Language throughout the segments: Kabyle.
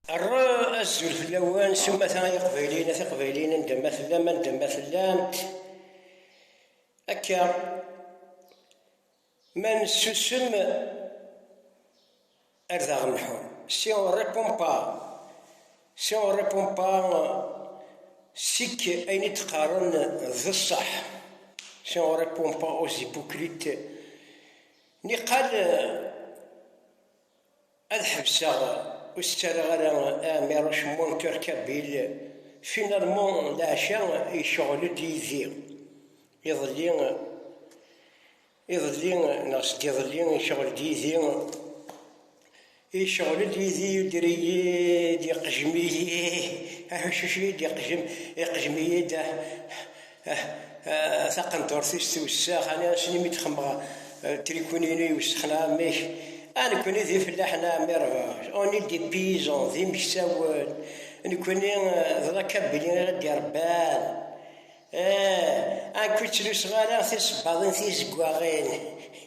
Rra azul fell-awen s umata ay iqbayliyen at iqbayliyen anda ma tellam anda ma tellamt akka ma nessusem ar d aɣ-nḥu si on répond pas si on répond pas sik ayen i d-qqaren d ṣṣeḥ si on répond pas aux hypocrites niqal Ad ḥebseɣ ur s-ttarraɣ ara Ɛmiruc Monter Kabil, finalement leɛca yecɣel-d yid-i. Iḍelli, iḍelli neɣ sdiḍelli yecɣel-d yid-i, yecɣel-d yid-i, yuder-iyi-d, yeqjem-iyi, aḥuccuc-iyi-d, yeqjem, yeqjem-iyi-d. taqendurt-is tiwessaɣ, ani asni mi d-xemmeɣ trikunin-inu iwessexen amek, a nekkni d ifellaḥen a ɛemmi Rbac, on est des paysans, d imeksawen, nekkni d rakabili ara d-irebban, ah, amek ur ttluseɣ ara tisebbaḍin tizeggaɣin.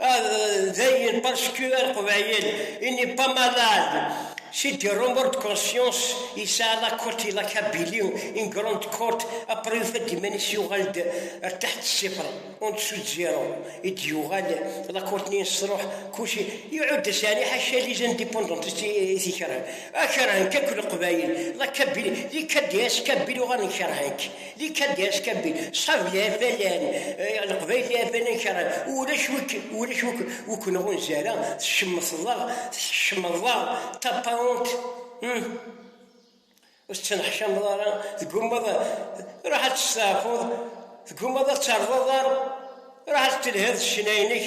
Dayen, parce que ar qbayel, il n'est pas malade, c'est du remords de conscience, yesɛa la côte et la Kabylie, une grande côte, après yufa-d iman-is yuɣal-d ar taḥt ṣṣifr, en dessous de zéro, i d-yuɣal la côte-nni yesruḥ, kullci, iɛudda sani ḥaca les indépendantistes i t-ikerhen, a kerhen-k akk leqbayel, la Kabylie, les KDS, Kabyles uɣalen kerhen-k. Di Kadesh Kabin, ṣṣab d afalan, leqbayel d afalan kerran, ulac wi ulac wi wi k-nɣunza ara, tcemteḍ-aɣ, tḥecmeḍ-aɣ, taparunt, hum, ur tettneḥcameḍ ara, tgummaḍ, ruḥ ad testeɛfuḍ, tgummaḍ ad terreḍ aḍar, ruḥ ad telhiḍ s ccna-inek.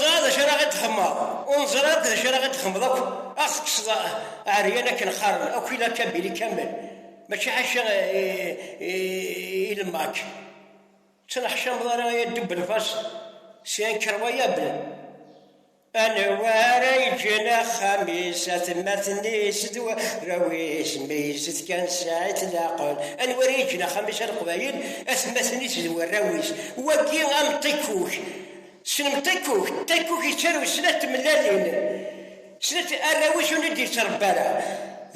Ẓra d acu ara ɣ-d-temmeḍ, ur neẓri ara d acu ara ɣ-d-temmeḍ akk, ad ɣ-tekkseḍ ɛeryan akken qqaren, akk i la kabili kamel, mačči ḥaca i lemmak, ttneḥcameḍ ara i addub n lfas, syen krawayabel. Anwa ara yeǧǧen axxam-is, atmaten-is d warraw-is, mi izet kan sɛit leɛqel? Anwa ara yeǧǧen axxam-is a Leqbayel, atmaten-is d warraw-is? Wagi am ṭikkuk. Tessnem ṭikkuk? Ṭikkuk yettarew snat tmellalin, snat arraw-is ur d-yettrebba ara.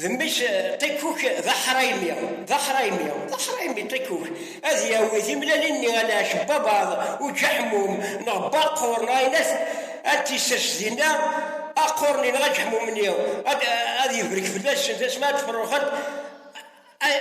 D mmi-s Ṭikuk d aḥraymi, d aḥraymi, d aḥraymi Ṭikuk, ad yawi timlalin-nni a Lɛecc n Babaḍ, Uǧaḥmum, neɣ Baqur, neɣ ayen at ad t-isers dinna, Aqur-nni neɣ Aǧaḥmum-nni, ad ibrek fell-asen tasmart tefruxet,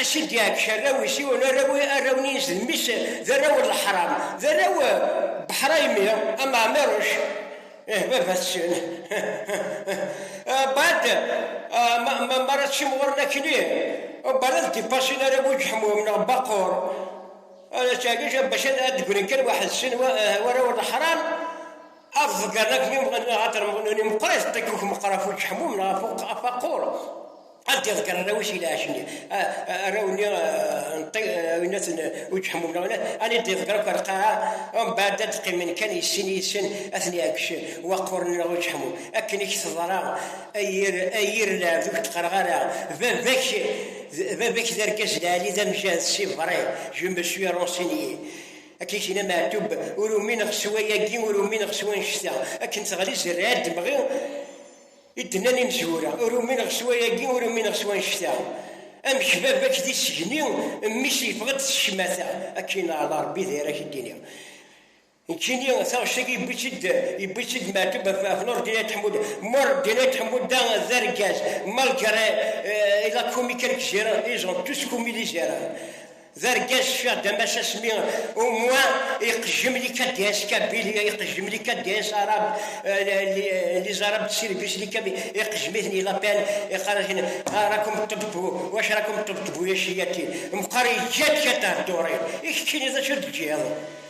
a s-id-iɛeggec arraw-is, yiwen arraw-nni-ines d mmi-s, d arraw n leḥram, d arraw n Beḥraymi, a Maɛmiruc. Ih, baba-s ččan. Bad, ma ara teččim ɣur-n akli, bad ad d-ipasin ara bu ǧeḥmum neɣ baqur. Ttagij, bac ad d-grin kan waḥed sin wara ur leḥram, ad ḍeggren akli neɣ ad termɣen. Meqqer izeṭṭ-ik meqqer ɣef uǧeḥmum neɣ ɣef aqur. ad d-iḍegger arraw-is i lɛac-nni arraw-nni winaten ur ǧeḥmun wala ad d-iḍegger akk lqaɛa mbaɛd ad d-qqimen kan yessin yid-sen ad ten-iɛeggec waqquren neɣ ur ǧeḥmun akken i k-teḍra ay yir ay yir lɛebd ur k-d-qqareɣ ara baba-k baba-k d argaz lɛali d amjahed si vrai je me suis renseigné akken i k-yenna Meɛtub ur umineɣ s wayagi ur umineɣ s wannect-a akken teɣli zerriɛa d-mɣi I d-nnan imezwura, ur umineɣ s wayagi, ur umineɣ s wannect-a. Amek baba-k d isegni, mmi-s yeffeɣ-d s ccmata. Akken ɛla Rebbi d ayen ara k-id-iniɣ. Nekkini taɣect-agi yewwi-tt-id yewwi-tt-id Meɛtub ɣef ɣef Nureddin Ayt Ḥemmuda. Mureddin Ayt Ḥemmuda d argaz, malgré il a commis quelques erreurs, ils ont tous commis des erreurs. D argaz cfiɣ d amac asmi au moins iqejjem les KDS kabyle, iqejjem les KDS arabes, euh, les arabes de service, les kabyle, iqejjem-iten il appelle, iqqar-asen ah rakum tṭebṭbu, wacu rakum tṭebṭbu ya ciyati, meqqar yeǧǧa-d kata dduṛi, i keččini d acu d-teǧǧiḍ?